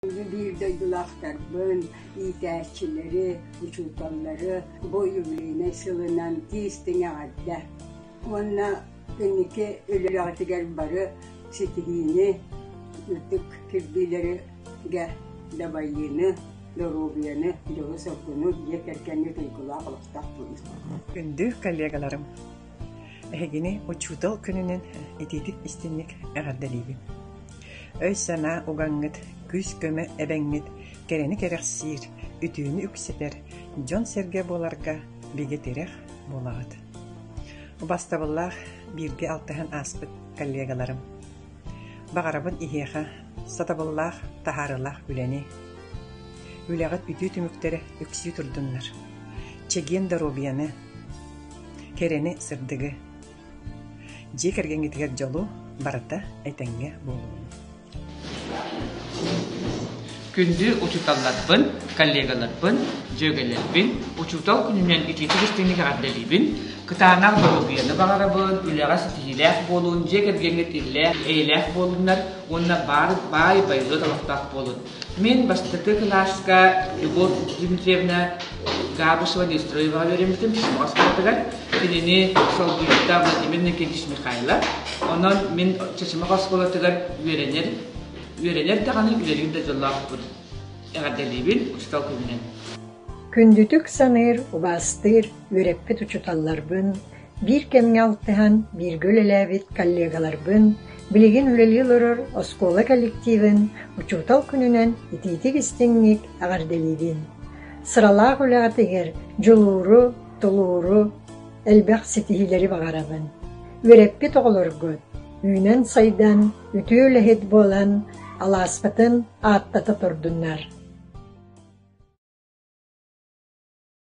биир дойдулаахтарбын, иитээччилэри, учууталлары бу юбилейнай сылынан тиистиҥ эҕэрдэ уонна кэнники үлэҕитигэр бары ситиһиини, ытык кирбиилэригэ дабайыыны, доруобуйаны, дьолу-соргуну, дьиэ кэргэҥҥэ туйгулаах олохтоох буолуҥ. Күндү коллегаларым! Эһигини учуутал күнүнэн итиитик истиҥник эҕэрдэлиибин! Өй-санаа угаҥҥыт, күүс-көмө эбэҥҥит кэрэни кэрэхсиир, үтүөнү үксэтэр, дьон-сэргэ буоларга бигэ тирэх буолаҕыт. Убастабыллаах бииргэ алтыһан ааспыт коллегаларым! Баҕарабын иһиэхэ сатабыллаах, таһаарыылаах үлэни. Үлэҕит бүтүү түмүктэрэ үксүү турдуннар! Чэгиэн доруобуйаны, Кэрэни, сырдыгы, дьиэ кэргэҥҥитигэр дьолу, барыта этэҥҥэ буолуоҕун. Күндү учууталларбын, коллегаларбын, дьүөгэлэрбин, учуутал күнүнэн итиитик истиҥник эҕэрдэлиибин, кытаанах доруобуйаны баҕарабын, үлэҕэ ситиһиилээх буолун, дьиэ кэргэҥҥит иллээх, эйэлээх буолуннар уонна баар баай байылыт олохтоох буолун. Мин бастакы кылааска Любовь Дмитриевна Габышева Нестроеваҕа үөрэммитим Сомоҕос куоратыгар. Кинини солбуйуута Владимир Никитич Михайлов. Онон мин Чачымах оскуолатыгар үөрэнэр, үөрэнэр даҕаны үлэлиир да дьоллоохпун. Эҕэрдэлиибин, учуутал күнүнэн. Күндүтүк саныыр, убаастыыр үөрэппит учууталларбын, Биир кэмҥэ алтыһан, бииргэ үлэлээбит коллегаларбын, билигин үлэлии олорор оскуола коллективын Учуутал күнүнэн итиитик-истиҥник эҕэрдэлиибин! Сыралаах үлэҕитигэр дьулууру, тулууру, элбэх ситиһиилэри баҕарабын! Үөрэппит оҕолоргут үүнэн-сайдан, үтүө үлэһит буолан, алааспытын ааттата турдуннар!